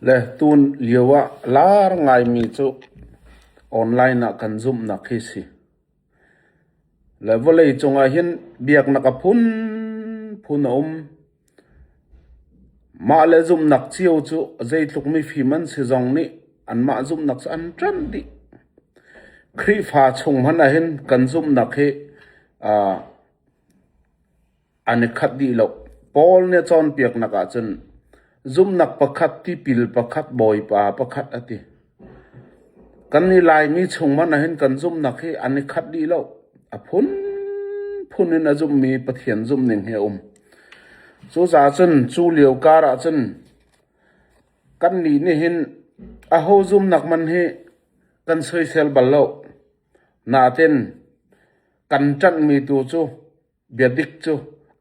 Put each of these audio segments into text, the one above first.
Le tun lio ah lar ngaimi cu online ah kan zumhnak hi si. Le vawlei cung ahhin biaknak a phunphun a um. Mah le zumhnak cio cu zeitluk mifim an si zong nih anmah zumhnak cu an ṭanh dih. Khrihfa chung hmanh ahhin kan zumhnak hi aa an i khat dih lo. Paul nih a cawnpiaknak ah cun zumhnak pakhat, tipil pakhat, Bawipa pakhat a ti. Kan i Laimi chung hmanh ahhin kan zumhnak hi an i khat dih lo. A phunphun in a zummi Pathian zumhning hi a um. Cucaah cun cu lio kar ah cun kannih nih hin aho zumhnak man hi kan soisel bal lo. Nain kan ṭanhmi tu cu Biadik cu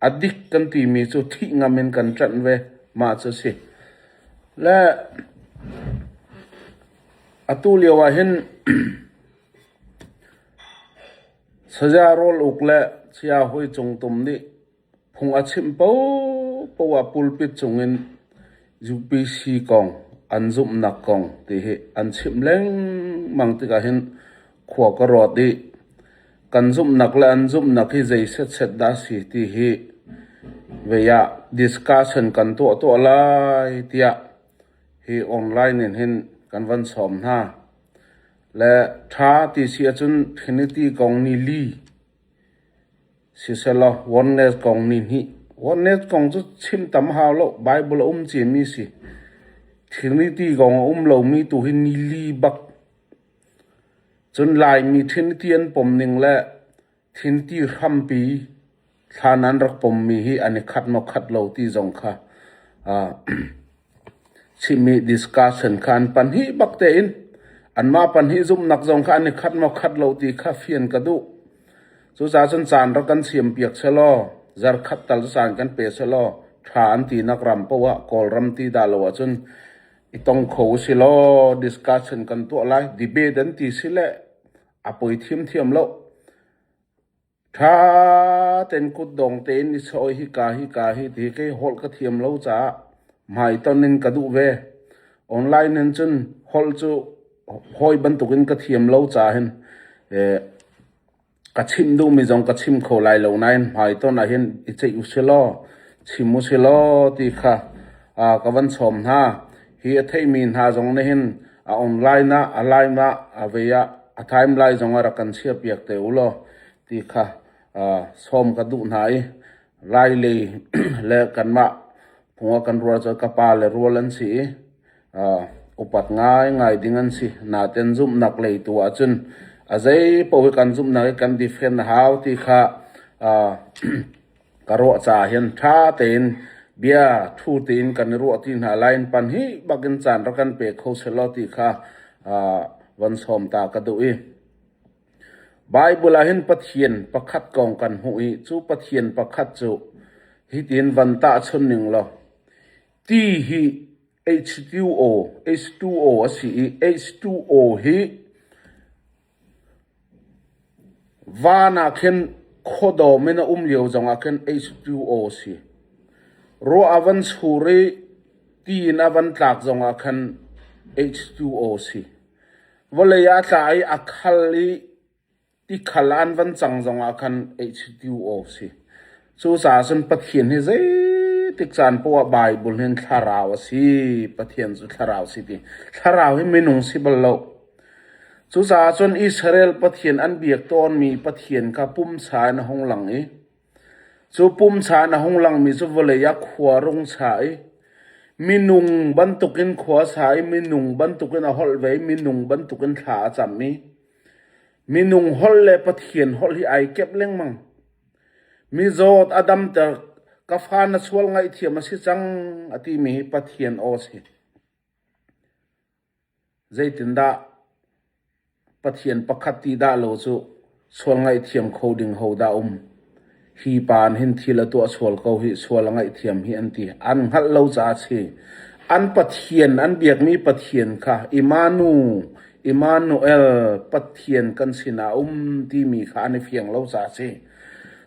a dik kan timi cu thih ngam in kan ṭanh ve, mah cu a si. Le atu lio ah hin saya Rawl Uk le saya Hoi Cung Tum nih phung a chimh paohpaoh ah pulpit cung in UPC kong an zumhnak kong ti hi an chimh lengmang tikah hin khua ka ruat i Kan zumhnak le an zumhnak hi zei setset dah a si ti hi vei ah discussion kan tuah tuah lai tiah hi online in hin kan van sawm hna. Le ṭha ti si ahcun Trinity kong ni li siselaw oneness kong ni hnih. Oneness kong cu chim tam hau lo. Bible a um ciami si. Trinity kong a um lomi tu hi ni li bak Cun Laimi thinti an pom ning le thinti hrampi thlan ah an rak pommi hi an i khat maw khat lo ti zong kha chim i discussion kha an pahnih bak tein anmah pahnih zumhnak zong kha an i khat maw khat lo ti kha fian ka duh. Cucaah cun caan rak kan siampiak selaw, zarkhat tal cu caan kan pe selaw, ṭha an tinak ram paoh ah Kawlram ti dah lo ahcun I tong kho usih law discussion kan tuah lai. Debate an ti si le a poi thiamthiam lo. Tha ten kut dong tein i sawi hi ka hi ka hi ti ke holh ka thiam lo caah hmai ton in ka duh ve. Online hin cun holh cu hawi bantukin ka thiam lo ca hin eh, Ka chimh duhmi zong ka chim kho lai lo nain hmaitonh ah hin i ceih usilaw, chim usilaw ti kha ka van sawm hna. Hi a theimi hna zong nih hin a online ah, a live ah, a vei ah, a timeline zong ah rak kan chiahpiak te u law ti kha sawm ka duh hna i Lai lei le kanmah phung ah kan rual cu ka pa le rual an si i upat ngaingai ding an si. Natein zumhnak lei tu ahcun a zei paoh hi kan zumhnak i kan defend a hau ti kha ka ruah caah hin ṭha tein bia thu tein kan i ruah ti hna lai in pan hi bakin caan rak kan pe kho seh law ti kha van sawm ta ka duh i Baibal ah hin Pathian pakhat kong kan hmuh i cu Pathian pakhat cu hitin van tahchun ning law Ti hi H-tu aw, H-tu aw a si i H-tu aw hi van ah khin khuadawm in a um lio zong ah khin H-tu aw a si. Ruah a van sur i ti in a van tlak zong ah khan H-tu aw a si. Vawlei ah a tla i a khal i Tikhal an van cang zongah khan ei chiti u aw si. Cucaah cun Pathian hi zeitik caan paoh ah Baibal hi thlarau a si, Pathian cu thlarau a si ti. Thlarau hi minung si bal lo. Cucaah cun Israel Pathian an biak tawnmi Pathian kha pumsa in a hung lang i cu pumsa in a hung langmi cu vawlei ah khua rung sa i minung bantukin khua sa i minung bantukin a holh ve i minung bantukin thla a cam i Minung holh le Pathian holh hi ai kep lengmang. Mizawt a damter. Ka fa na sual ngaihthiam a si cang a timi hi Pathian aw a si. Zeitindah Pathian pakhat ti dah lo cu sual ngaihthiam kho ding ho dah um? Hi pa nih hin thil a tuah sual ko hih, sual a ngaihthiam hih an ti. An hngalh lo caah a si. An Pathian, an biakmi Pathian kha Immanu, Immanuel, Pathian kan sinah a um timi kha an i fiang lo caah a si.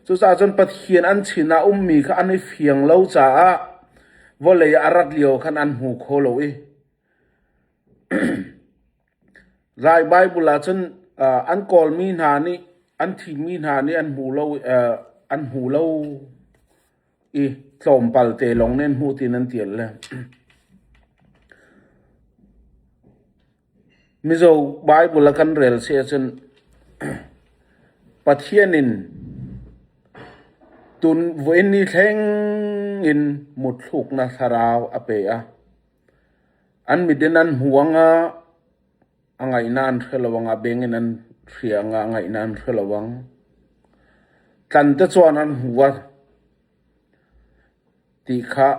Cucaah cun Pathian an sinah a ummi kha an i fiang lo caah vawlei ah a rat lio khan an hmu kho lo i Lai Baibal ahcun an kawlmi hna nih an thimmi hna nih an hmu lo i tlawmpal te lawng nih an hmu tiin an tial le. Mizo Baibal a kan rel si ahcun Pathian in tun vuin ni thleng in mutthluknak thlarau a pe a. An mit in an hmu a ngah, a ngaihnak an hre lo ang, a beng in an hri a ngah, ngaihnak an hre lo ang. Tlan te cun an hmu a ti kha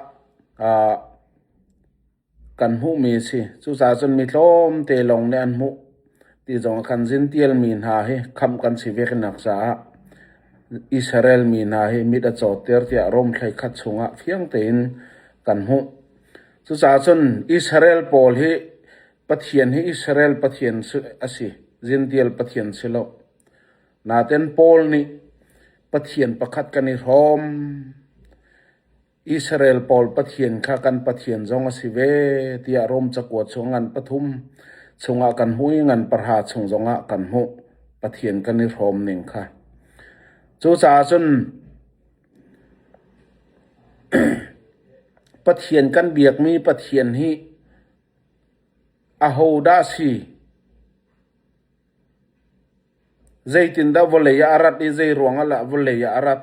aa kan hmuhmi a si. Cucaah cun mi tlawmte lawng nih an hmuh ti zongah khan Zintial mi hna hi khamh kan si ve hrinnak caah Israel mi hna hi mit a cawtter tiah Rom thlei khat chungah fiang tein kan hmuh. Cucaah cun Israel pawl hi Pathian hi Israel Pathian a si, Zintial Pathian si lo. Natein Paul nih Pathian pakhat kan i hrawm. Israel pawl Pathian kha kan Pathian zong a si ve tiah Rom cakuat chung ngan pathum chungah kan hmuh i ngan pahra chung zongah kan hmuh Pathian kan i hrawm ning kha. Cucaah cun Pathian kan biakmi Pathian hi ahodah a si? Zeitindah vawlei ah a rat i zeiruangah lah vawlei ah a rat?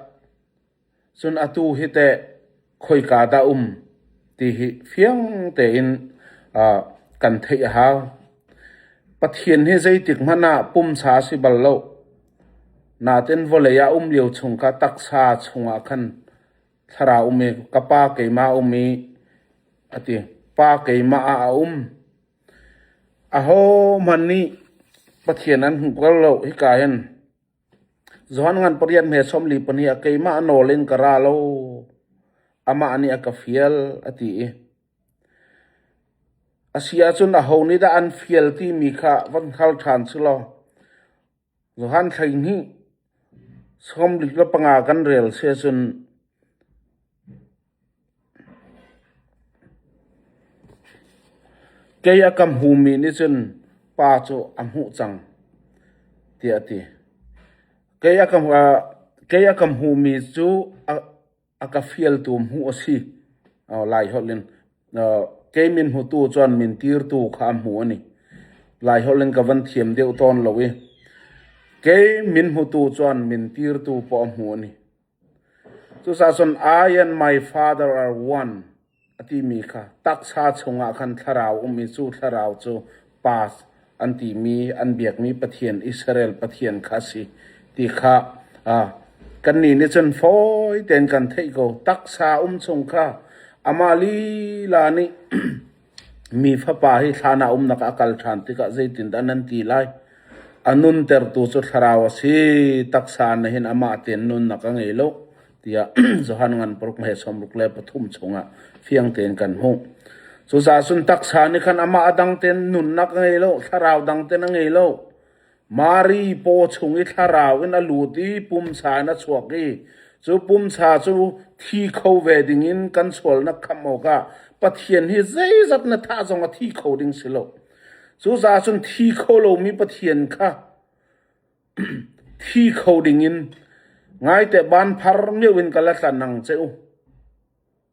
Cun atu hi teh khoika dah um ti hi fiang tein uh, kan theih a hau. Pathian hi zeitik hmanh ah pumsa a si bal lo. Nain vawlei ah a um lio chung kha taksa chungah khan thlarau um i ka Pa keimah a um i a ti. Pa keimah ah a um. Ahohmanh nih Pathian an hmuh kho lo hika hin Johan ngan pariat hme sawmli pahnih ah keimah nawl in ka ra lo, amah nih a ka fial, a ti i a si ahcun aho nih dah an fial timi kha van hngal ṭhan selaw, Johan hleihnih sawmlik le panga kan rel si ahcun kei a ka hmumi nih cun pa cu a hmuh cang, tiah a ti. Kei a ka hmumi cu a. a ka fialtu hmu a si lai holh in kei min hmutu cun min tirtu kha a hmu ani lai holh in ka van thiam deuh tawn lo i kei min hmutu cun min tirtu pawh a hmu ani cusa cun I and my father are one A timi kha taksa chungah khan thlarau um i cu thlarau cu path an timi an biakmi Pathian, Israel Pathian kha a si ti kha kannih nih cun fawi tein kan theih ko. Taksa um chung kha amah lila nih mi Fapa hi thlan ah umnak ah a kal ṭhan tikah zeitindah nan ti lai? A nuntertu cu thlarau a si, taksa nih hin amah tein nunnak a ngei lo. tiah Johan ngan paruk hmai sawmruk le pathum chungah fiang tein kan hmuh. Cucaah cun taksa nih khan amah a dang ten nunnak a ngei lo, thlarau dang ten a ngei lo. Mari paw chung i thlarau in a lut i pumsa in a chuak i cu pumsa cu thi kho ve ding in kan sualnak khamh awkah Pathian hi zeizat na thah zong a thi kho ding si lo. Cucaah cun thi kho lomi Pathian kha Thi kho dingin ngaite banphar mio in ka la tlan ang che u.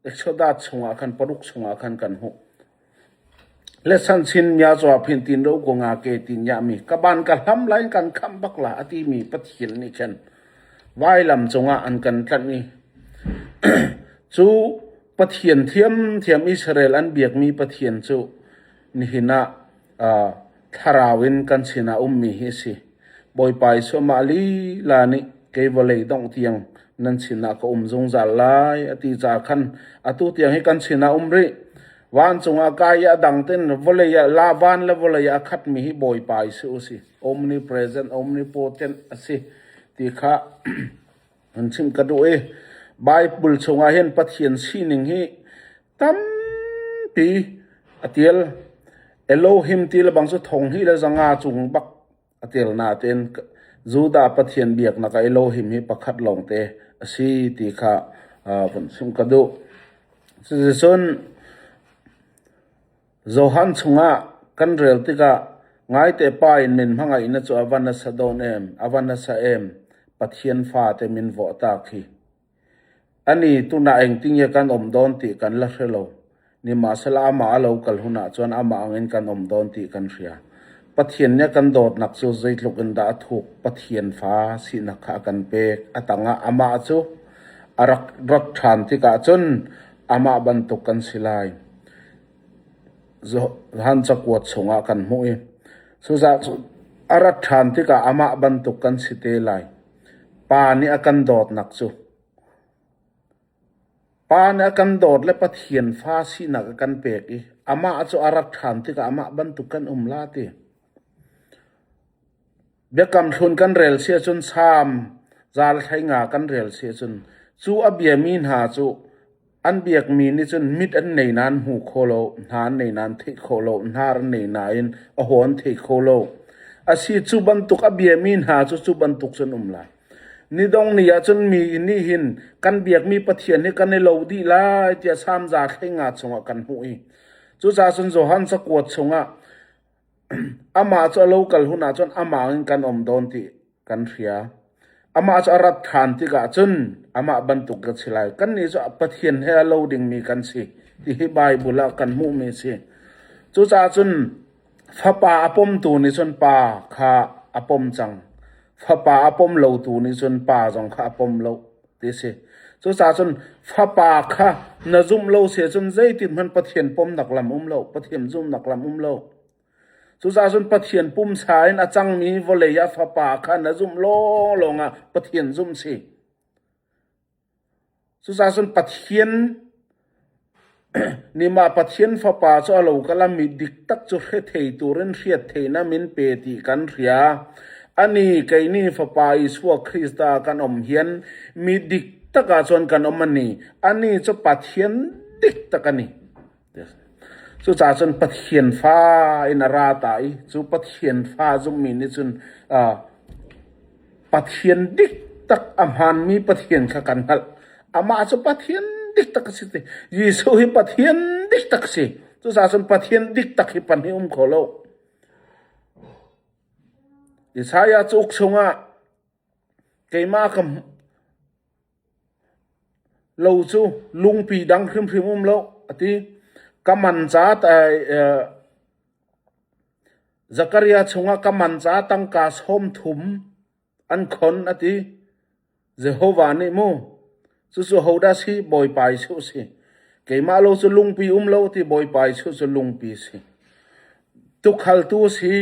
Exoda chungah khan paruk chungah khan kan hmuh. Lesan chin mya cawa phin tin ro ku nga ke tin ya mi ka ban ka hlam lain kan kham bak la ati mi pathil nih khan vailam cungah an kan tlanh i cu pathian thiam thiam Israel an biak mi pathian cu nihin ah Thlarau in kan sinah a ummi hi a si. Bawipa Jesuh amah lila nih kei vawlei dongh tiang nan sinah ka um zungzal lai a ti caah khan atu tiang hi kan sinah a um rih. Vancung ah kai i a dang tein vawlei ah la van le vawlei ah a khatmi hi Bawipa Jesuh a si. Omnipresent, omnipotent a si ti kha An chimh ka duh i Baibal chungah hin Pathian sining hi tampi a tial. Elohim ti le bang cu thong hnih le zanga cung bak a tial nain Judah Pathian biaknak ah Elohim hi pakhat lawngte a si ti kha vun chimh ka duh. Cuticun Johan chungah kan rel tikah ngaite pa in min hmangaihnak cu a van nasa dawn em, a va nasa em, Pathian fate min vuahtak hi! Anih tunah engtinge kan um dawn ti kan la hre lo. Nimahsehla amah a lo kal hunah cun amah angin kan um dawn ti kan hria. Pathian nih a kan dawtnak cu zeitluk in dah a thuk, Pathian fa sinak kha a kan pek. A tangah amah cu a rak rat ṭhan tikah cun amah bantuk kan si lai. Zaan cakuat chungah kan hmuh i cuzah cu a rat ṭhan tikah amah bantuk kan si te lai. Pa nih a kan dawtnak cu Pa nih a kan dawt le Pathian fa sinak a kan pek i amah cu a rat ṭhan tikah amah bantuk kan um la ti. Biakam hlun kan rel si ahcun Salm zal hleinga kan rel si ahcun cu a biami hna cu an biakmi nih cun mit an nei nain hmu kho lo, hna an nei nain theih kho lo, hnar an nei nain a haw an thei kho lo. Asi cu bantuk a biami hna cu cu bantuk cun um lai. Nidong ni ahcun mi in nih hin kan biakmi Pathian hi kan i lo dih lai tiah Salm zal hleinga chungah kan hmuh i cucaah cun Johan cakuat chungah Amah cu a lo kal hun ahcun amah in kan um tawn ti kan hria. Amah cu a rat ṭhan tikah cun amah bantuk ka si lai. Kannih cu Pathian he a lo dingmi kan si ti hi Baibal ah kan hmuhmi a si. Cucaah cun fapa a pomtu nih cun pa kha a pom cang. Fapa a pom lotu nih cun pa zong kha a pom lo. ti a si. Cucaah cun fapa kha na zumh lo si ahcun zeitikhmanh Pathian pawmnak lam um lo, Pathian zumhnak lam um lo. Cucaah cun Pathian pumsa in a cangmi vawlei ah fapa kha na zumh lawlawng ah Pathian zumh si. Cucaah cun Pathian Nimah Pathian Fapa cu a lo ka lam i diktak cu hrethei turin hriatteinak min pe ti kan hria. Anih kei nih Fapa Isua Krist ah kan um hian mi diktak ahcun kan um a ni. Anih cu Pathian diktak a ni. Cucaah cun Pathian Fa in a ra ta i cu Pathian Fa zummi nih cun aa... Pathian dik tak a hmaanmi Pathian kha kan hngalh. Amah cu Pathian dik tak a si ti. Jesuh hi Pathian dik tak a si. Cucaah cun Pathian dik tak hi pan hi um kho lo. Isaiah cauk chungah keimah ka lo cu lungpi dang hrimhrim um lo a ti. Ka man ca ta Zakaria chungah ka man caah tangka sawm thum an khon, a ti. Jehovah nih mu, cucu hodah si? Bawipa Jesuh a si. Keimah lo cu lungpi um lo, ti Bawipa Jesuh cu lungpi a si. Tuukhaltu a si,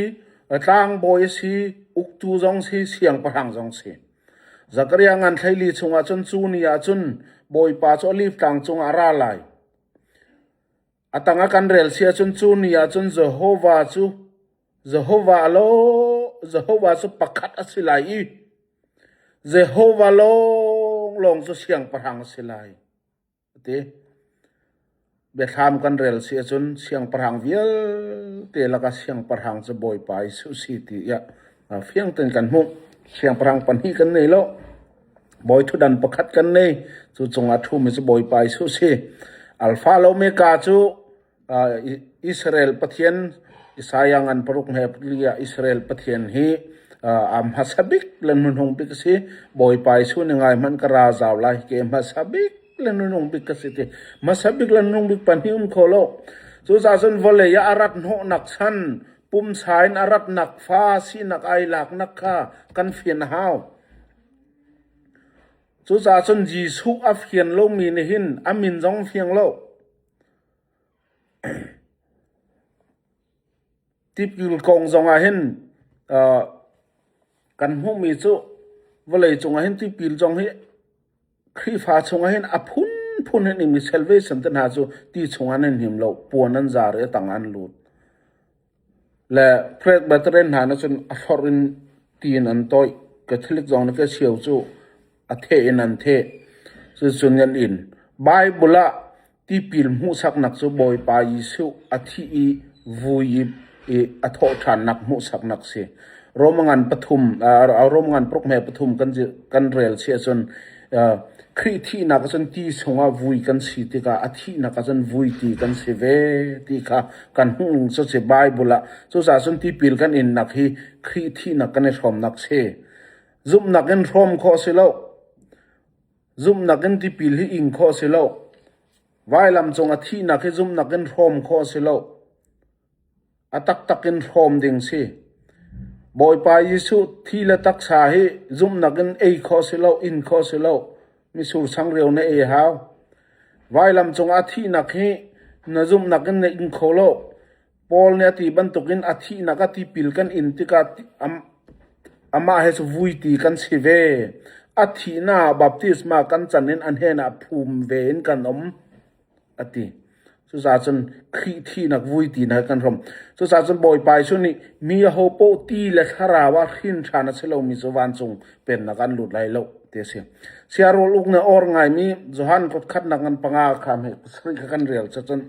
tlangbawi a si, uktu zong a si, siangpahrang zong a si. Zakaria ngan thleili chungah cun cu ni ah cun Bawipa cu oliv tlang cungah a ra lai. A tang a kan rel si ahcun cu ni ahcun Jehovah cu Jehovah law Jehovah cu pakhat a si lai i Jehovah lawnglawng cu siangpahrang a si lai, a ti. Biathlam kan rel si ahcun siangpahrang vialte lakah siangpahrang cu Bawipa Jesuh si tiah fiang tein kan hmuh. Siangpahrang pahnih kan nei lo. Bawi thutdan pakhat kan nei. Cu cungah ṭhumi cu Bawipa Jesuh si. Alfa le Omega cu aa, I- Israel Pathian Isaiah ngan paruk he pali ah Israel Pathian hi aa, aa hmasa bik le hnuhnung bik a si. Bawipa Jesuh nih ngaihmanh ka ra zau lai hi ke hmasa bik le hnuhnung bik ka si ti. Hmasa bik le hnuhnung bik pahnih um kho lo. Cucaahcun vawlei ah a rat hnawhnak chan, pumsa in a ratnak fa sinak ai laknak kha kan fian a hau. Cucaah cun Jesuh a fian lomi nih hin a min zong a fiang lo. Tipil kong zongah hin kan hmuhmi cu vawleicung ah hin tipil zong hi Khrihfa chungah hin a phunphun in imi salvation te hna cu ti chungah nan him lo, puan an zar i a tang an lut. Le Great Brethren hna nih cun a hlorh in ti in an toih. Catholic zong nih Kacheu cu a theh in an theh. Cuticun an in. Bible ah Tipil hmuhsaknak cu Bawipa Jesuh a thih i vui i a thawhṭhannak hmuhsaknak a si. Roma ngan pathum Roma ngan paruk hme pathum kan rel chih ahcun Khrih thihnak ahcun ti chungah vui kan si tikah a thihnak ahcun vui ti kan si ve ti kha kan hmuh cu a si. Baibal ah cucaah cun tipil kan innak hi Khrih thihnak kan i hrawmnak a si. Zumhnak in hrawm khawh a si lo. Zumhnak in tipil hi ing khawh a si lo. Vailam cung a thihnak hi zumhnak in hrawm khawh a si lo. A taktak in hrawm ding si. Bawipa Jesuh thi le taksa hi zumhnak in ei khawh a si lo, in khawh a si lo. Misur changreu na ei a hau. Vailam cungah a thihnak hi na zumhnak in na ing kho lo. Paul nih a ti bantukin a thihnak a tipil kan in tikah amah he vuiti kan si ve. A thihnak ah baptisma kan can in a hnenah phum ve in kan um, a ti. Cucaahcun Khrih thihnak vuitinak he kan hrawm. Cucaahcun Bawipa Jesuh nih mi aho paoh ti le thlarau ah hrinṭhan a si lomi cu vancung pennak an lut lai lo, ti a si. Siarol uk na or ngaimi Johan khutkhatnak ngan panga kha meh pasarih kha kan rel cacun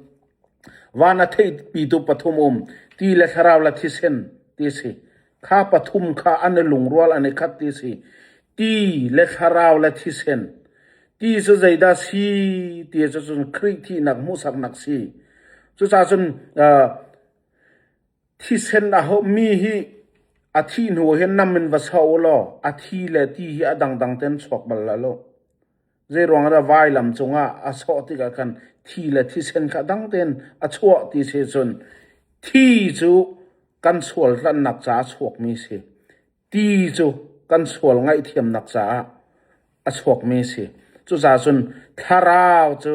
Van a theihpitu pathum um, ti le thlarau le thisen ti a si. Kha pathum kha an i lungrual an i khat ti a si. Ti le thlarau le thisen. Ti cu zeidah si ti cu cun Khrih thihnak hmuhsaknak si. Cucaah cun uh, thisen a mi hi a thih hnu ah hin nam in va sa u law a thi le ti hi a dangdang tein chuak bal hlah law. Zeiruangah dah vailam cungah a sawh tikah khan thi le thisen kha dang tein a chuah ti si ahcun thi cu kan sual hlannak caah a chuakmi a si. Ti cu kan sual ngaihthiamnak caah a chuakmi a si. Cucaah cun thlarau cu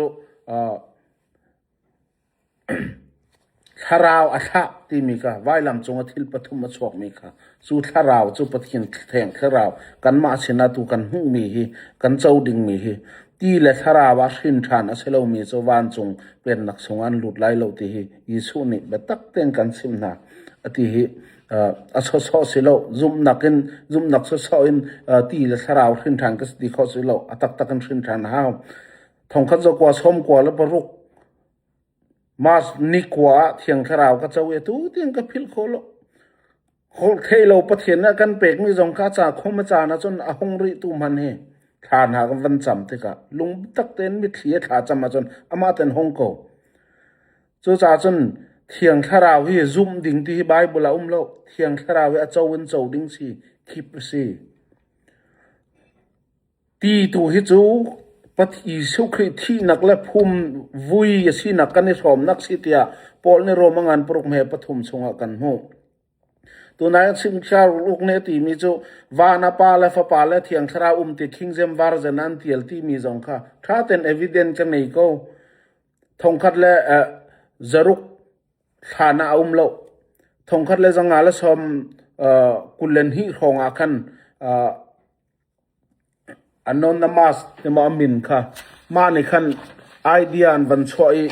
Thlarau a thlah timi kha vailam cungah thil pathum a chuakmi kha cu thlarau cu Pathian Theng Thlarau kanmah sinah tu kan hmuhmi hi kan co dingmi hi ti le thlarau ah hrin ṭhan a si lomi cu vancung Pennak chungah an lut lai lo ti hi Jesuh nih biatak tein kan chimh hna a ti hi a sawsawh si lo. Zumhnak in zumhnak sawsawh in ti le thlarau hrin ṭhan ka si ti kho si lo. A taktak in hrin ṭhan a hau. Thongkhat zakua, sawmkua le paruk Mars nikua ah Thiang Thlarau ka co i atu tiang ka philh khawh lo. Holhtheihlo Pathian nih a kan pekmi zong kha ca khawm a caan ahcun a hung rihtu hmanh hi thla hna kan van cam tikah lung biatak tein mitthli he thla cam ahcun amah tein hong ko. Cucaah cun Thiang Thlarau hi zumh ding ti hi Baibal ah a um lo. Thiang Thlarau hi a co in co ding si, khip a si. Ti tu hi cu Jesuh Khrih thihnak le phum vui a sinak kan i hrawmnak a si tiah Paul nih Rom a ngan paruk hme pathum chungah kan hmuh. Tunain chingchiar uluk nih a timi cu van a pa le fapa le thiang thlarau um ti King James Version ah an tial timi zong kha ṭha tein evidence ka ngei ko. Thongkhat le zaruk hlan ah a um loh. Thongkhat le zanga le sawm kul le hnih hrawng ah khan Anonymous tiva a min kha mah nih khan idea an van chuah i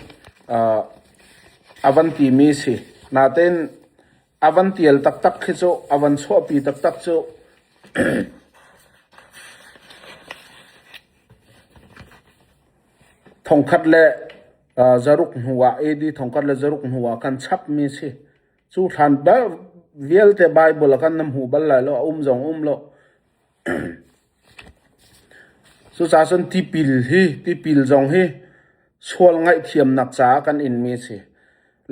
a van timi a si. Natein a van tial taktak khi cu, a van chuahpi taktak cu. Thongkhat le zaruk hnu ah, AD thongkhat le zaruk hnu ah khan chapmi a si. Cu hlan bal vialte Baibal a kan na hmu bal lai lo, a um zong a um lo. Cucaah cun tipil hi, tipil zong hi sual ngaihthiamnak caah kan inmi a si.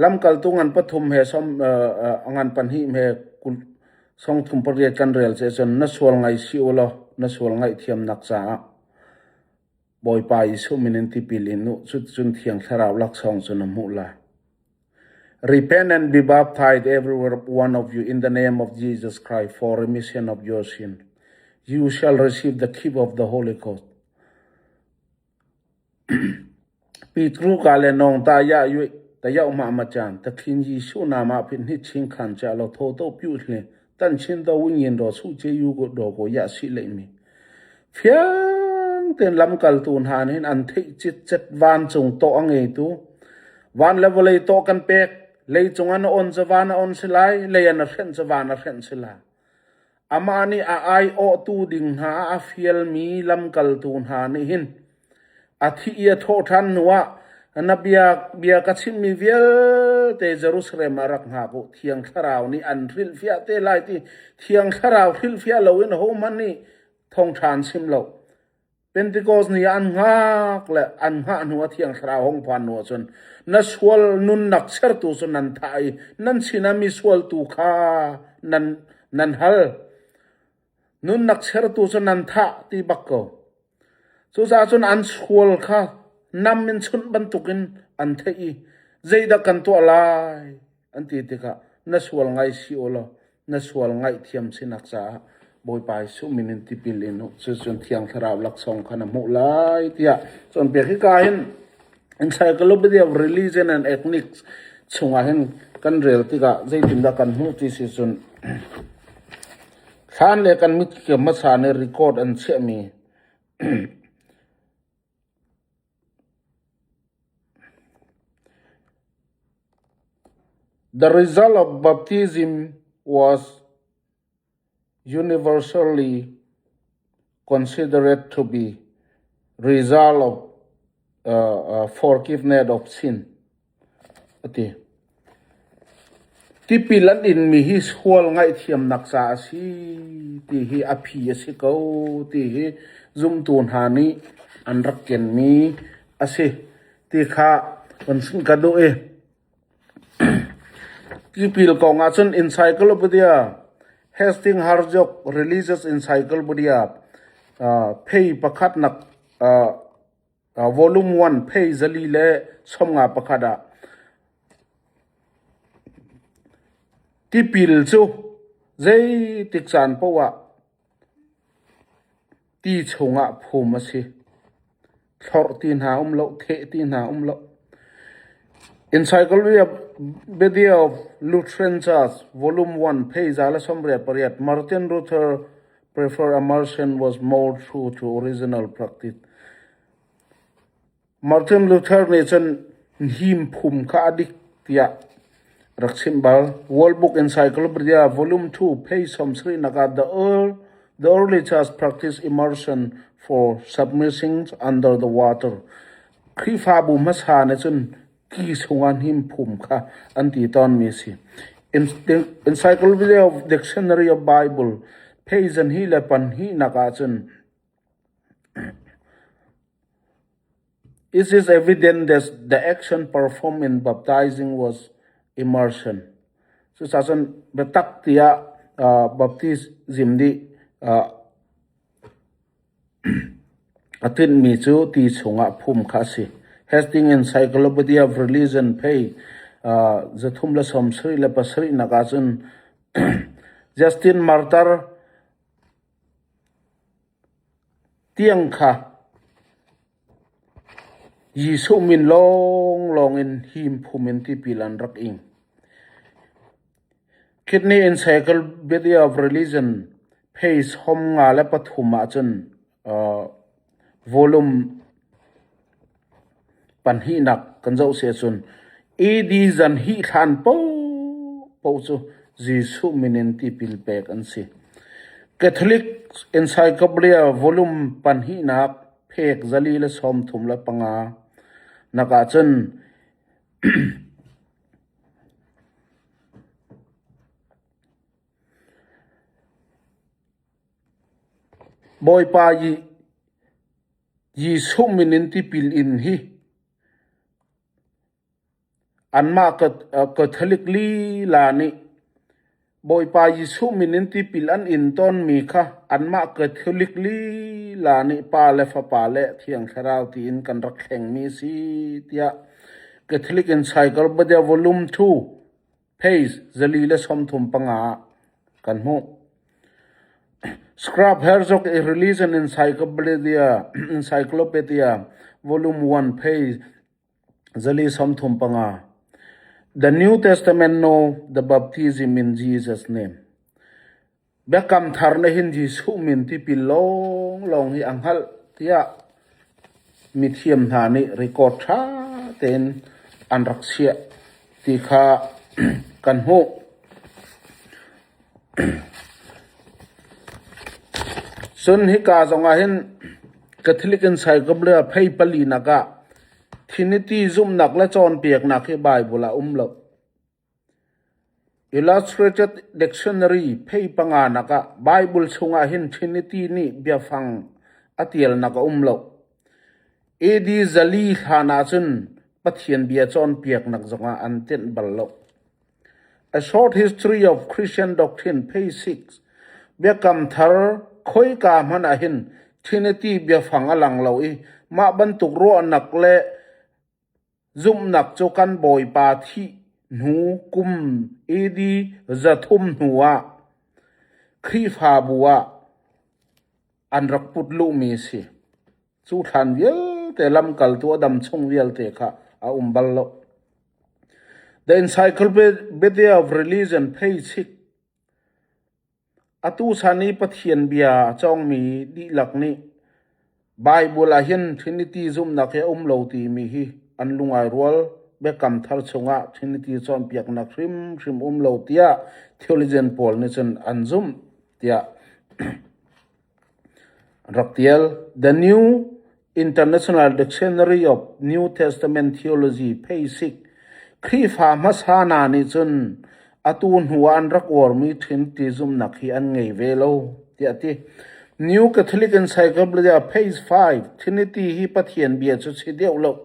Lamkaltu ngan pathum he som uh, uh, ngan pahnih he song thum pariat kan rel ceh cun na sual ngai si u law na sual ngaihthiamnak caah Bawipa Jesuh min in tipil in u, cuticun Thiang Thlarau laksawng cu na hmuh lai. Repent and be baptized, everyone one of you, in the name of Jesus Christ for remission of your sin. You shall receive the gift of the Holy Ghost. Petru ka le nong ta ya yu ta ya ma ma chan ta thin Jesu na ma phin ni ching khan cha lo tho to pyu hle Kan Chinto Win-Yin Raw-Suh Kye-yu Raw Kaw Yah Sih Leihmi fiang tein lamkaltu hna nih an theih citcet vancung tawh a ngeitu van le vawlei tawh kan pek leicung an on ca van a on si lai lei an a hrenh ca van a hrenh si lai amah nih a ai awhtu ding hna a fialmi lamkaltu hna nih hin A thih i a thawh ṭhan hnuah na bia ka chimmi vialte Jerusalem ah rak hngak u. Thiang Thlarau nih an hrilhfiah te lai ti Thiang Thlarau hrilhfiah loin hohmanh nih thawngṭha an chim lo. Pentekost ni ah an hngak le an hngah hnuah Thiang Thlarau hong phan hnuah cun na sual nunnak sertu cu nan thah i nan sinah misual tu kha nan nan hal. Nunnak chertu cu nan thah ti bak ko. Cucaah cun an sual kha nam in chunh bantukin an theih i, “Zeidah kan tuah lai?” an ti tikah, “Na sual ngai si u law na sual ngaihthiam sinak caah Bawipa Jesuh min in tipil in u. Cuticun Thiang Thlarau laksawng kha na hmuh lai,” tiah cawnpiak. Hika ah hin Encyclopedia of Religion and Ethnics chungah hin kan rel tikah zeitindah kan hmuh ti si cun, Hlan le kan mit ka hmasa nih record an chiahmi. The result of baptism was universally Considerate to be result of forgiveness of sin a ti. Tipil an inmi hi sual ngaihthiamnak ca a si ti hi a phi a si ko ti hi zumtu hna nih an rak kenmi a si ti kha kan ka duh i Tipil kong ahcun encyclopedia Hastings-Harjoch Religious Encyclopedia phei pakhat nak volume one phei zali le sawmnga pakhat ah tipil cu zeitik caan paoh ah Ti chungah phum a si. Thlorh ti hna um loh, theh ti hna um loh. Encyclopedia Body of Lutheran Church, Volume 1, page za la sawmriat pariat, Martin Luther preferred immersion was more true to original practice. Martin Luther nih cun hniphum kha a dik tiah rak chimh bal. World Book Encyclopedia Volume 2 page sawmsarihnak ah The Earl, The Early Church Practiced Immersion for Submerging Under the Water. Khrihfabu hmasa nih cun ki chungah hniphum kha an ti tawnmi a si. Encyclopedia of Dictionary of Bible page zan hi le pan hnihnak ah cun It is evident that the action performed in baptising was immersion. Cucaah cun biatak tiah uh, baptism nih uh, a tinhmi cu ti chungah phum kha a si. Hasting Encyclopedia of Religion pei uh, zathum le sawmsarih le pasarih nak ahcun Justin Martyr Tiang kha Jesuh min lawnglawng in himphum in tipil an rak ing. Kidney Encyclopedia of Religion, page hom nga le pathum ah cun, Volume pahnihnak kan zoh si ahcun AD zan hih hlan paohpaoh cu Jesuh min in tipil pek an si. Catholic Encyclopedia volume pahnihnak phek zali le sawmthum le panga nak ahcun Bawipa Jesuh min in tipil in hi anmah Catholic lila nih Bawipa Jesuh min in tipil an in tawnmi kha anmah Catholic lila nih Pa le Fapa le Thiang Thlarau tiin kan rak thlengmi a si tiah Catholic in Cycle Badevolum II Phase zali le sawmthum panga ah kan hmuh. Scrub hairs awk i riliz in encyclopedia volume 1 phase zali sawmthum panga. The New Testament Know the Baptism in Jesus Name. Biakam Thar na hin hi suhmin tipil lawnglawng hi a hngalh tiah mithiam hna nih record ṭha tein an rak chiah ti kha kan hmuh. Cun hika zongah hin Catholic Encyclopedia phei pali nak ah Trinity zumhnak le cawnpiaknak hi Baibal ah a um lo. Illustrated Dictionary phei panganak ah Baibal chungah hin Trinity nih biafang a tialnak a um lo. AD zali hlan ahcun Pathian bia cawnpiaknak zongah an tenh bal lo. A Short History of Christian Doctrine phei six Biakam Thar khoika hmanh ah hin Trinity biafang a lang lo i mah bantuk ruahnak le Zumhnak cu kan Bawipa thih hnu kum AD zathum hnuah Khrihfabu ah an rak put luhmi a si. Cu thlan vialte, lamkaltu a dam chung vialte kha a um bal lo. The Encyclopedia of Religion pheichik. Atu chan i Pathian Bia a cawngmi dihlak nih Baibal ahhin Trinity zumhnak hi a um lo timi hi an lung ai rual. Biakam Thar chungah Trinity cawnpiaknak hrimhrim um lo tiah theologian pawl nih cun an zumh tiah Rak tial: The New International Dictionary of New Testament Theology Basic Khrihfa hmasa hna nih cun atu hnu ah an rak uarmi ṭhin ṭi zumhnak hi an ngei ve lo, tiah a ti. New Catholic Encyclopedia, page 5, Trinity hi Pathian bia cu si deuh loh.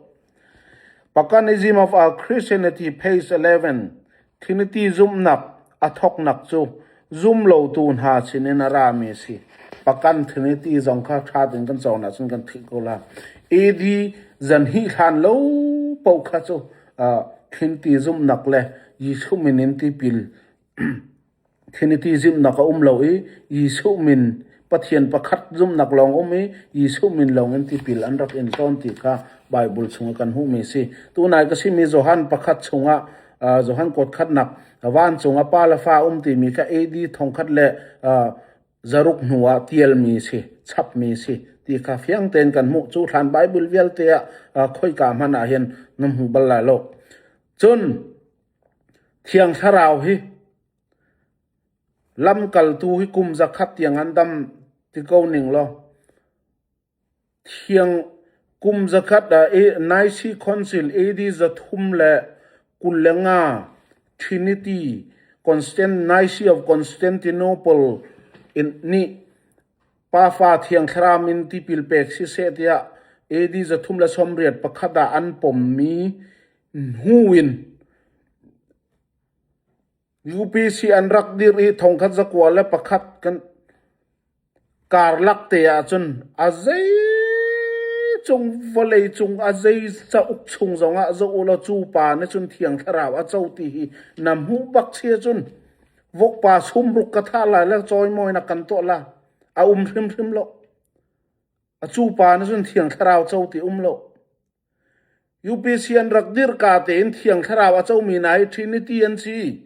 Paganism of Our Christianity, page eleven, Trinity zumhnak a thawknak cu zumlotu hna sinin a rami a si. Pagan Trinity zong kha ṭha tein kan cawn ahcun kan theih ko lai. AD zan hih hlan lo paoh kha cu uh, Trinity zumhnak le Jesuh min in tipil Trinity zumhnak a um lo i Jesuh min, Pathian pakhat zumhnak lawng a um i Jesuh min lawngin tipil an rak in tawn ti kha Baibal chungah kan hmuhmi a si. Tunai ka simi Johan pakhat chungah uh, Johan kawtkhatnak vancung ah pa le fa um timi kha AD thongkhat le uh, zaruk hnu ah tialmi a si, chapmi a si ti kha fiang tein kan hmuh. Cu hlan Baibal vialte ah uh, khoika hmanh ah hin na hmu bal lai lo. Cun Thiang Thlarau hi lamkaltu hi kum zakhat tiang an dam ti ko ning law, thiang kum zakhat ah Nicene Council AD zathum le kul le nga Trinity Nicene of Constantinople in nih Pafa Thiang Thlarau min tipil pek siseh tiah AD zathum le sawmriat pakhat ah an pommi Hnu in UPC an rak dirh i thongkhat zakua le pakhat kan karlak te ahcun a zeicung vawlei cung a zei cauk chung zongah zoh u law cu pa nih cun thiang thlarau a co ti hi na hmuh bak chia cun vokpa sumruk ka thah lai le chawimawina kan tuah la a um hrimhrim lo. A cu pa nih cun thiang thlarau co ti um lo. UPC an rak dirh ka tein Thiang Thlarau a comi hna hi Trinity an si.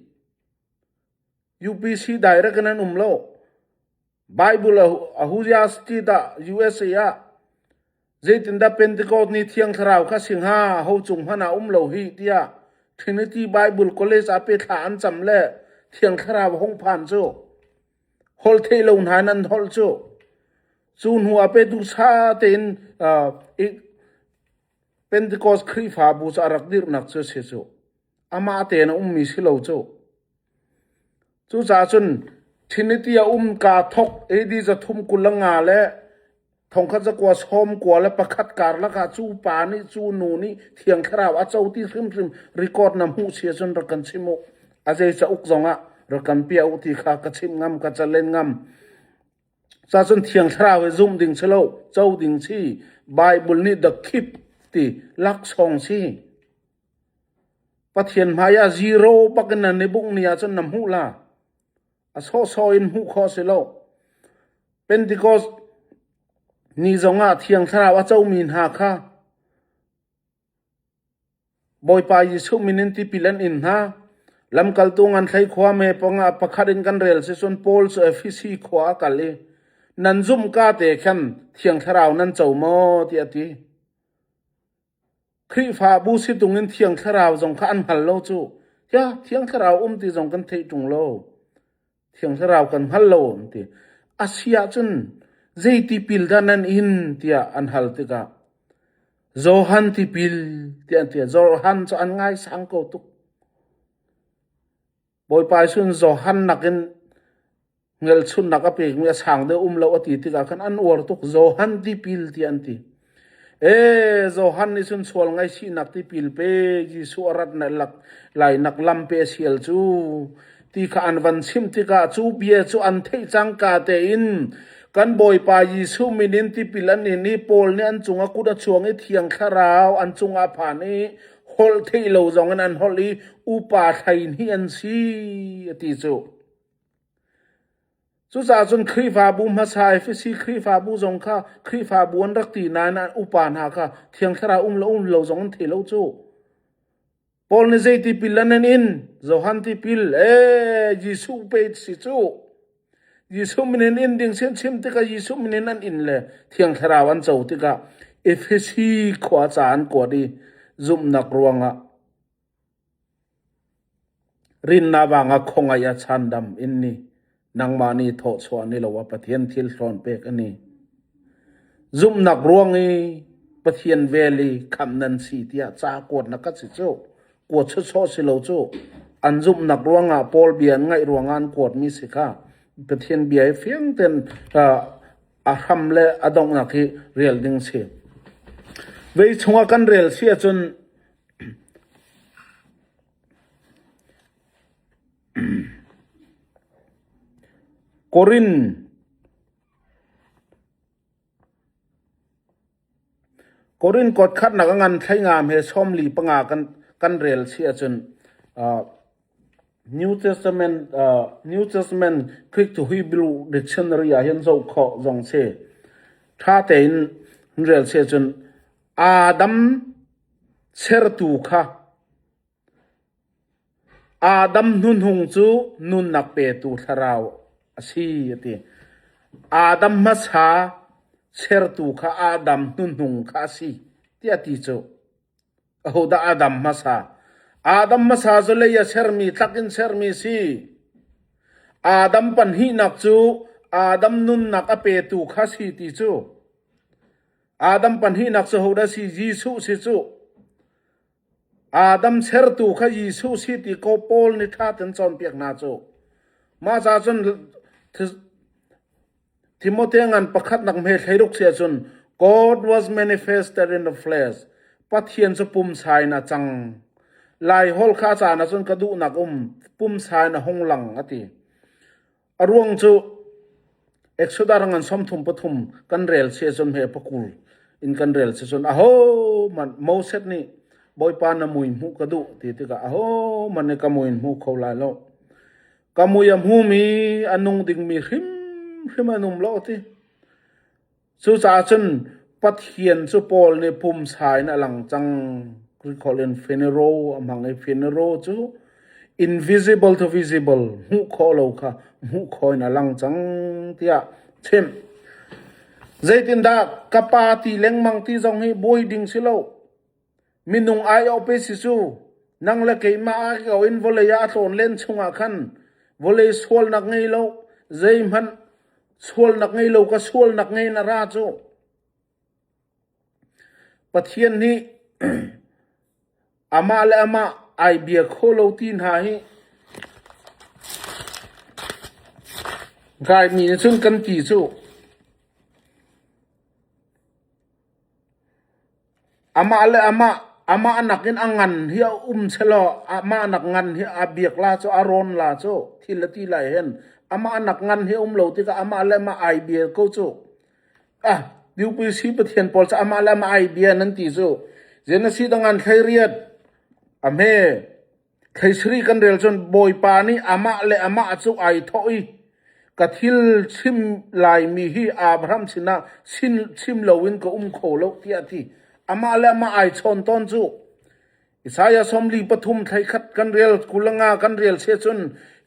UPC direct in an um lo. Bible Ecclesiastes ah USA ah zeitindah Pentecost ni Thiang Thlarau kha si hnga ho cung hmanh ah um lo hi tiah Trinity Bible College ah pe thla an cam le Thiang Thlarau hung phan cu holh theih lo hna in an holh cu. Cu hnuah petu ṭha tein Pentecost Khrihfabu cu a rak dirhnak cu a si cuh. Amah tein a ummi si lo cuh. Cucaah cun Trinity a um kaa thawk AD zathum kul a nga le Thongkhat cakuat sawm kua le pakhat karlak ah cu pa nih cu nu nih Thiang Thlarau a co ti hrimhrim record na hmuh si ahcun rak kan chimh u. A zei cauk zong ah rak kan piah u ti kha ka chimh ngam, ka calen ngam. Cacun Thiang Thlarau hi zumh ding si lo, co ding si. Baibal nih the keep ti laksawng si. Pathian hmai ah zero bak in nan i bungh ni ahcun na hmuh la. A sawhsawh in hmuh khawh a si lo. Pentikos ni zongah Thiang Thlarau a comi hna kha Bawipa Jesuh min in tipil an in hna. Lamkaltu ngan thlei khua me pangah pakhat in kan rel si cun Paul cu Efesi khua a kal i nan zumh ka te khan Thiang Thlarau nan co maw tiah a ti. Khrihfabu situng in Thiang Thlarau zong kha an hngal lo cuh. Hia Thiang Thlarau um ti zong kan theih ṭung lo. Thiang Thlarau kan hngal lo an ti. A si ahcun zei tipil dah nan in tiah an hal tikah Johan tipil tiah an ti. Johan cu an ngaisang ko tuk. Bawipa Jesuh Johan nakin ngelchunnak a pekmi a sang deuh um lo a ti tikah khan an uar tuk Johan tipil tiah an ti. E Johan nih cun sual ngaihchihnak tipil pe Jesuh a rat na lak lainak lam pe sial cu ti kha an van chim tikah cu bia cu an theih cangka tein kan Bawipa Jesuh min in tipil an in i Paul nih an cung a kut a chuang i Thiang Thlarau an cung ah a phan i Holh theih lo zong in an holh i upa thleihnih an si a ti cu. Cucaah cun Khrihfabu hmasa Efesi Khrihfabu zong kha Khrihfabu an rak ti nain an upa hna kha Thiang Thlarau um lo um lo zong an thei lo cu. Paul nih zei tipil an in? Johan tipil, e Jesuh pe si cu. Jesuh min in inn ding si an chim tikah Jesuh min in an inn le thiang thlarau an co tikah Efesi khua ca an kuat i zumhnak ruangah rinnak vangah khongaih a chandam in ni nangmah nih thawhchuah ni lo ah Pathian thil thlawn pek a ni. Zumhnak ruang i Pathian vel i khamh nan si tiah ca kuat na ka si cuh. Kuat sawsawh si lo cuh. An zumhnak ruangah Paul bia an ngaih ruangah an kuatmi si kha Pathian bia hi fiang tein uh, a hram le a donghnak hi rel ding si. Vei chungah kan rel si ahcun Korin Korin kuat khatnak a ngan thlengam he sawmli panga kan rel si ahcun New Testament Greek to Hebrew dictionary ahhin zoh khawh zong si. Ṭha tein in rel si ahcun Adam Sertu kha Adam hnuhnung cu nunnak petu thlarau a si a ti. Adam hmasa Sertu kha Adam hnuhnung kha a si tiah a ti cu. Ahodah Adam hmasa? Adam hmasa cu lei a sermi, thlak in sermi a si. Adam pahnihnak cu Adam nunnak a petu kha a si ti cu. Adam pahnihnak cu hodah a si? Jesuh a si cu. Adam Sertu kha Jesuh si ti kaw Paul nih ṭhat in cawnpiak hna cu. Mah cacun Timote ngan pakhatnak hme thlei ruk si ahcun God was manifested in the flesh Pathian cu pumsa in a cang. Lai holh kha a caan ahcun ka duhnak um pumsa in a hung lang a ti. A ruang cu Exodus ngan sawmthum pathum kan rel si ahcun hme pakul in kan rel si cun ahohmanh Moses nih Bawipa na mui hmuh ka duh ti tikah ahohmanh nih ka mui in hmu kho lai lo. Ka mui a hmumi a nung dingmi hrimhrim an um lo ti. Cucaah cun Pathian cu Paul nih pumsa in a lang cang. Kuri holh in funeral a hmang i funeral cu invisible to visible hmuh khawh lo kha hmuh khawh in a lang cang tiah a chimh. Zeitindah ka pa ti lengmang ti zong hi buai ding si lo. Minung aiawh pe si cu, nang le keimah ah ko in vawlei ah a tlawn len chungah khan vawlei sualnak ngei lo, zeihmanh sualnak ngei lo ka sualnak ngei na ra cu. Pathian nih amah le amah ai bia khawh lo ti hna hi raimi nih cun kan ti cuh. Amah le amah, amah nakin a ngan hi a um selaw amah nak ngan hi a biak la cu a rawn la cu thil a ti lai hen. Amah nak ngan hi a um lo tikah amah le amah ai bia ko cu. Ah, Biakpui si Pathian pawl cu amah le amah ai bia nan ti cu. Zen a si tang an thleiriat. Amen. Theisiri kan rel cun Bawipa nih amah le amah cu ai thawh i, ka thil chim laimi hi Abraham sinah chim loin ka um kho lo, tiah a ti. Amah le amah ai chawn tawn cu. Isaiah sawmli pathum thleikhat kan rel kulanga kan rel seh cun,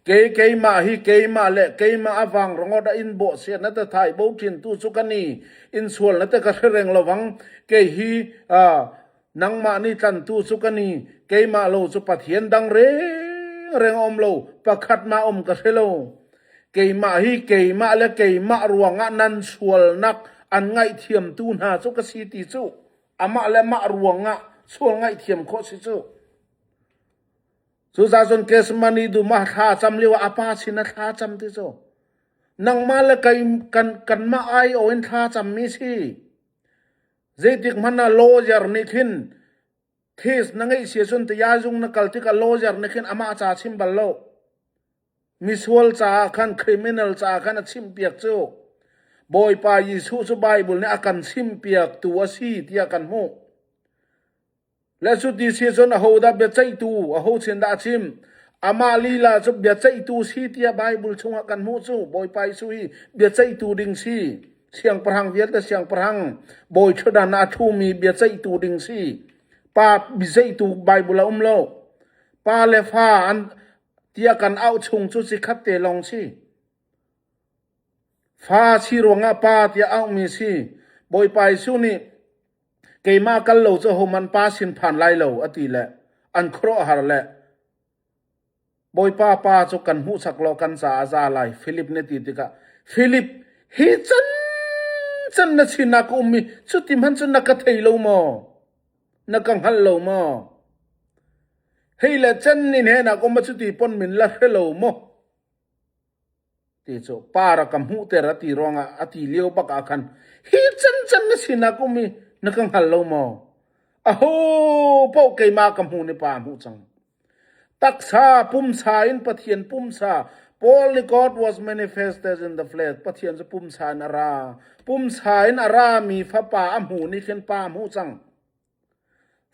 kei keimah hi keimah le keimah a vang ringawt a in bawh sian na tathai bo ṭhintu cu ka ni, in sual na ti ka hre reng lo vang. Kei hi nangmah nih tlantu cu ka ni keimah lo cu pathian dang rengreng a um lo pakhatmah a um ka hre lo keimah hi keimah le keimah ruangah nan sualnak an ngaihthiamtu hna cu ka si ti cu amah le mah ruangah sual ngaihthiam khawh si cu cu zacun kesmani duma thla cham liwa apa sin a thla cham ti cu nangmah le kan kan kan mah ai o in thla cham mi si Zeitik hmanh ah lawyer nih khin these na ngeihsia cun Taya Zung na kal tikah lawyer nih khin amah ca chim bal lo. Misual caah khan criminal caah khan a chimhpiak cu Bawipa Jesuh cu Baibal nih a kan chimpiaktu a si tiah kan hmuh. Lesuti si cun ahodah biaceihtu aho sin dah a chim? Amah lila cu biaceihtu si tiah Baibal chungah kan hmuh cu. Bawipa Jesuh hi biaceihtu ding si, siangpahrang vialte siangpahrang, bawi ṭhutdan ah a ṭhumi biaceihtu ding si, pa biaceihtu Baibal a um lo. Pa le fa an tiah kan auh chung cu cikhat te lawng si. Fa si ruangah pa tiah auhmi si. Bawipa Jesuh nih Keimah kal lo cu hohmanh pa sin phan lai lo, a ti le an khuaruahhar le Bawipa pa cu kan hmuhsak law kan caah a za lai, Filip nih a ti tikah, Filip, hi cancan na sinah ka um i cuti hmanh cu na ka thei lo maw? Na ka hngalh lo maw? Hei le can in hnenah ka um a cuti pon min la hre lo maw? Ti cu par a ka hmuhter a ti ruangah a ti lio bak ah khan hi cancan na sinah ka um i na ka hngal lo maw? Aho paoh keimah ka hmuh ni pa a hmuh cang. Taksa pumsa in Pathian pumsa Holy God was manifested in the flesh. Pathian cu pumsa in a ra. Pumsa in a rami Fapa a hmu ni khin pa a hmuh cang.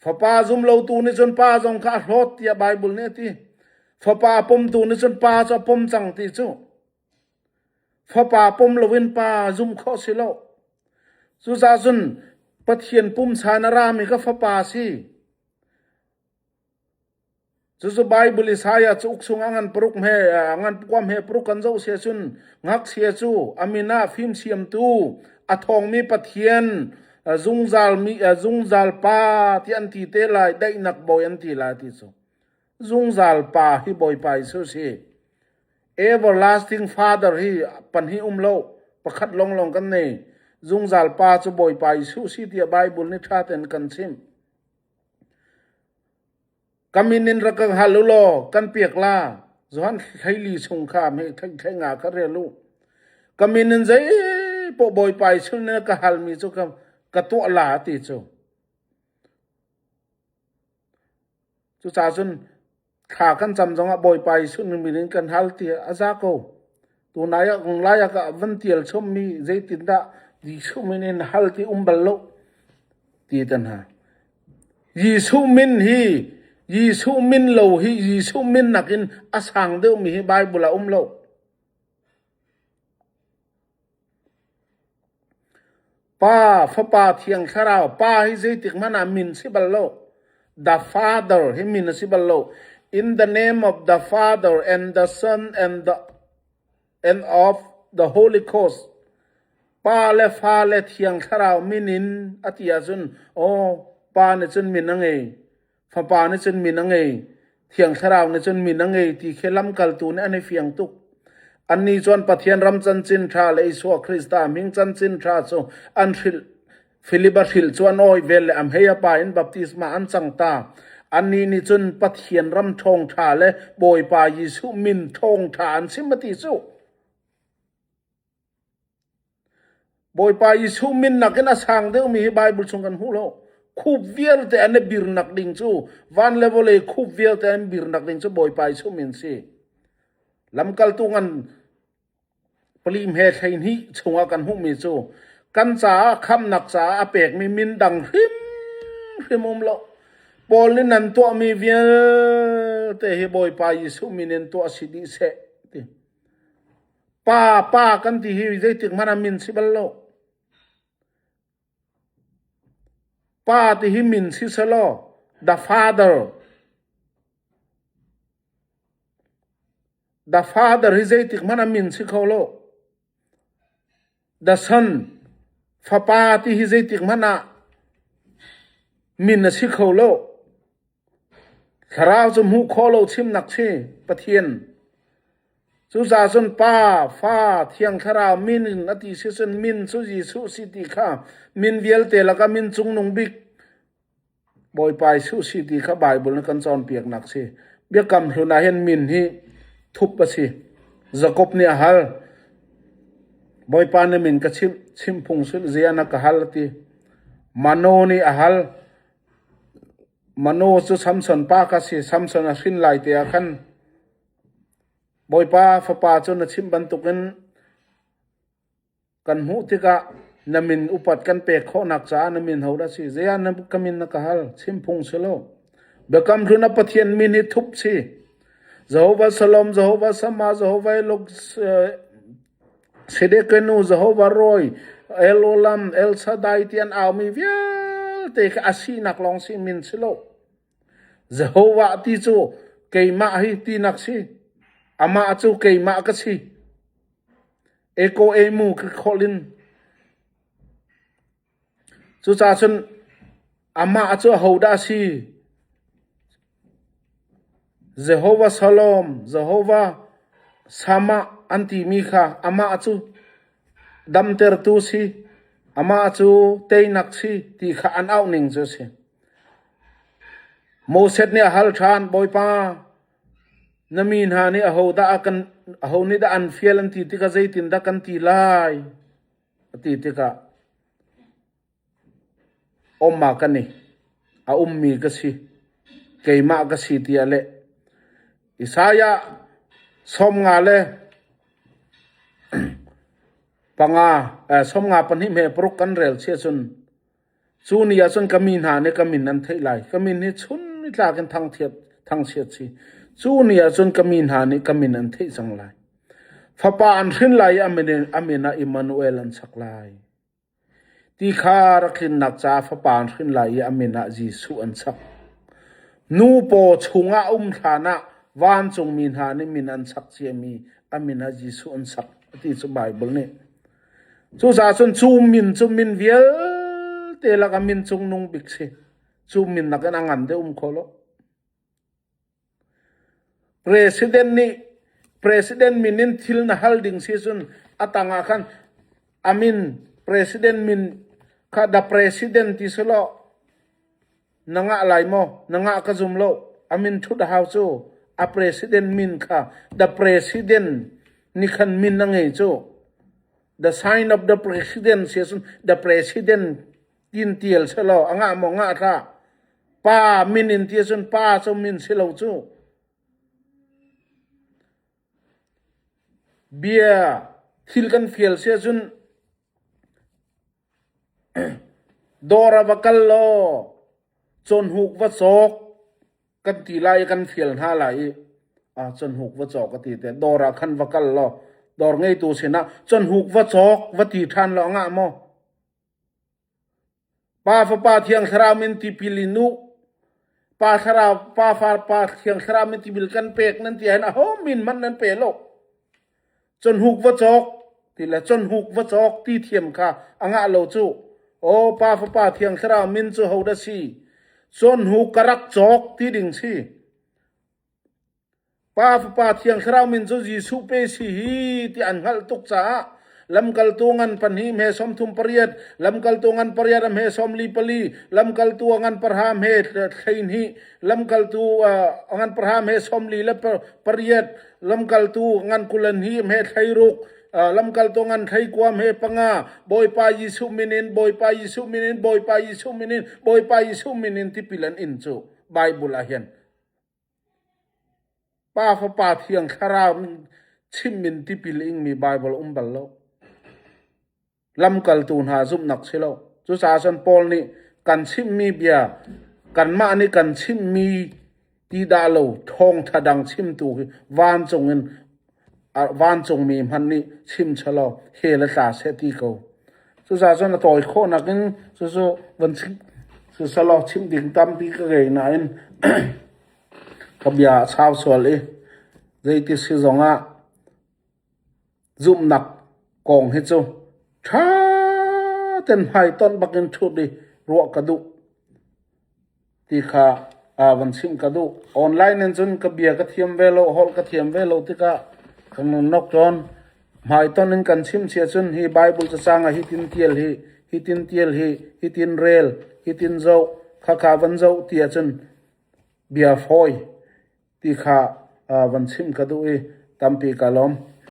Fapa zumlotu nih cun pa zong kha a hlawt tiah Baibal nih a ti. Fapa pumtu nih cun pa cu a pum cang ti cu fapa pum loin pa zumh khawh si lo. Cucaah cun Pathian pumsa in a rami kha fapa si. Cucu Baibal Isaiah cauk chungah ngan paruk hme ngan kuam he paruk kan zoh si ahcun ngakchia cu a min ah fimsiamtu, a thawngmi Pathian, zungzal mi zungzal pa ti an ti te lai, daihnak bawi an ti lai ti cu. Zungzal pa hi Bawipa Jesuh si. Everlasting Father hi pan hi um lo pakhat lawnglawng kan nei. Zungzal pa cu Bawipa Jesuh si tiah Baibal nih ṭha tein kan chimh. Ka min in rak ka hal u law kan piak la, Johan Hleili chung kha hmeh thengtheng ah ka rel u. Ka min in zeipoh Bawipa Jesuh nih na ka halmi cu ka, ka tuah la a ti cu. Cucacun Thla kan cam zongah Bawipa Jesuh nih min in kan hal ti a za ko. Tunai ah lai ah a van tial chommi zeitindah Jesuh min in hal ti um bal lo ti tan hna. Jesuh min hi Jesuh min lo hi Jesuh min nakin a sang deuhmi hi Baibal ah um lo. Pa, fapa thiang thlarau, pa hi zeitik hmanh ah min si bal lo. The Father hi min a si bal lo. In the name of the Father and the Son and the and of the Holy Ghost. Pa le fa le thiang thlarau min in a ti ahcun, aw, pa nih cun min a ngei. Fapa nih cun min a ngei, Thiang Thlarau nih cun min a ngei ti khi lamkaltu nih an i fiang tuk. Annih cun Pathian ram cancin ṭha le Isua Krista hming cancin ṭha cu an hrilh. Filip a hrilh cu an awi vel le a hmei a pa in baptisma an cang ta. Annih nih cun Pathian ram ṭhawngṭha le Bawipa Jesuh min ṭhawngṭha an chim a ti cu. Bawipa Jesuh min nakin a sang deuhmi hi Baibal chung kan hmuh lo. Khup vialte an i birnak ding cu van le vawlei khup vialte an birnak ding cu Bawipa Jesuh min si. Lamkaltu ngan pali hme hlei hnih chungah kan hmuhmi cu kan caah khamnak caah a pekmi min dang hrimhrim um lo. Paul nih nan tuahmi vialte hi Bawipa Jesuh min in tuah si dih seh ti. Pa, pa kan ti hi zeitik hmanh ah min si bal lo. Pa ti hi min si selaw the father. The father hi zeitik hmanh ah min si kho lo. Dasan, fapa ti hi zeitik hmanh ah min a si kho lo. Thlarau cu hmuh khawh lo chimnak si, Pathian. Cucaah cun Pa, Fa, Thiang Thlarau min in a ti si cun min cu Jesuh si ti kha min vialte lakah min Cungnung Bik Bawipa Jesuh si ti kha Baibal na kan cawnpiaknak si. Biakam hlun ah hin min hi thup a si. Jakob nih a hal, Bawipa na min ka chimh, chimh phung sul ziana ka hal a ti. Mano nih a hal, Mano cu Samson pa ka si, Samson a hrin lai te ah khan Bawipa fapa cu na chimh bantukin Kan hmuh tikah na min upat kan pek khawhnak caah na min hodah a si? Zeiah ka min na ka hal? Chim phung si lo. Biakam Hlun a Pathian min hi thup si. Jehovah Salom, Jehovah Sama, Jehovah Elok, Sedekenu, Jehovah Roi, El Olam, El Shaddai ti an aumi vialte khi a sinak lawng si min si lo. Jehovah ti cu keimah hi tinak si. Amah cu keimah ka si. Ekaw eimu ka kholh in cucaah cun amah cu ahodah a si? Jehovah Shalom, Jehovah Shammah an timi kha amah cu damtertu si, amah cu teinak si ti kha an auh ning cu a si. Moses nih a hal ṭhan, Bawipa, Na mi hna nih aho nih dah an fial an ti tikah zeitindah kan ti lai? a ti tikah um ah kan i a ummi ka si, keimah ka si tiah a leh. Isaiah sawmnga le panga, sawmnga pahnih hme paruk kan rel si ahcun Cu ni ahcun ka mi hna nih ka min an theih lai. Ka min hi chun nitlak in thangchiat si. Cu ni ahcun ka mi hna nih ka min an theih cang lai. Fapa an hrin lai i a min ah Immanuel an sak lai. Ti kha rak hrinnak caah fapa an hrin lai i a min ah Jesuh an sak. Nu paw chungah a um hlan ah vancungmi hna nih min an sak ciami a min ah Jesuh an sak a ti cu Baibal nih Cucaah cun cu min cu min vialte lak ah min cungnung bik si. Cu min nakin a ngan deuh um kho lo. President nih president min in thil na hal ding si cun a tang ah khan a min president min kha the president ti si law Na ngah lai maw? Na ngah ka zum lo. A min ṭhut a hau cu. A president min kha The President ni khan min a ngei cu. The sign of the president si ahcun The President tiin tial selaw a ngah maw ngah hlah. Pa min in ti ahcun pa cu min si lo cu. Bia thil kan fial si ahcun Dawr ah va kal law cawnhuk va cawk kan ti lai i kan fial hna lai i cawnhuk va cawk a ti te. Dawr ah khan va kal law dawr ngeitu sinah cawnhuk va cawk va ti ṭhan law a ngah maw? Pa fapa thiang thlarau min tipil in u, pa thlarau pa fapa thiang thlarau min tipil kan pek nan ti ahhin aho min hmanh nan pe lo. Conhuk va cawk ti le conhuk va cawk ti thiam kha a ngah lo cu. Aw Pa fapa thiang thlarau min cu hodah si? Conhuk ka rak cawk ti ding si. Pa Fapa Thiang Thlarau min cu Jesuh pe si hi ti an hngalh tuk caah lamkaltu ngan pahnih hmesawm thum pariat, lamkaltu ngan pariat a hmesawm li pali, lamkaltu a ngan parha hme hleihnih, lamkaltu a ngan parha hmesawm li le pariat, lamkaltu ngan kul a hnih hme thleiruk, lamkaltu ngan thleikua hme panga, Bawipa Jesuh min in, Bawipa Jesuh min in, Bawipa Jesuh min in, Bawipa Jesuh min in tipil an in cu Baibal ah hin. Pa fapa thiang thlarau min chimmin tipil ingmi Baibal um bal lo. Lamkaltu hna zumhnak si lo. Cucaah cun Paul nih kan chimmi bia, kanmah nih kan chimmi ti dah lo thawngṭha dang chimtu hi vancung in Ar vancungmi hmanh nih chim chelaw he le tla seh ti ko. Cucaahcun a tawi khawh nakin cucu van chimh selaw chimh ding tampi ka ngei nain ka bia a sau sual i zeiti si zongah zumhnak kong hi cu ṭha ten hmaitonh bakin ṭhut i ruah ka duh. ti kha aa van chimh ka duh. Online in cun ka bia ka thiam ve lo, holh ka thiam ve lo tikah ka nunawk tawn. Hmaitonh in kan chimchia cun hi Baibal cacang ah hitin tial hi, hitin tial hi, hitin rel, hitin zoh, khakha van zoh ti ahcun bia fawi ti kha aa van chimh ka duh i tampi ka lawm.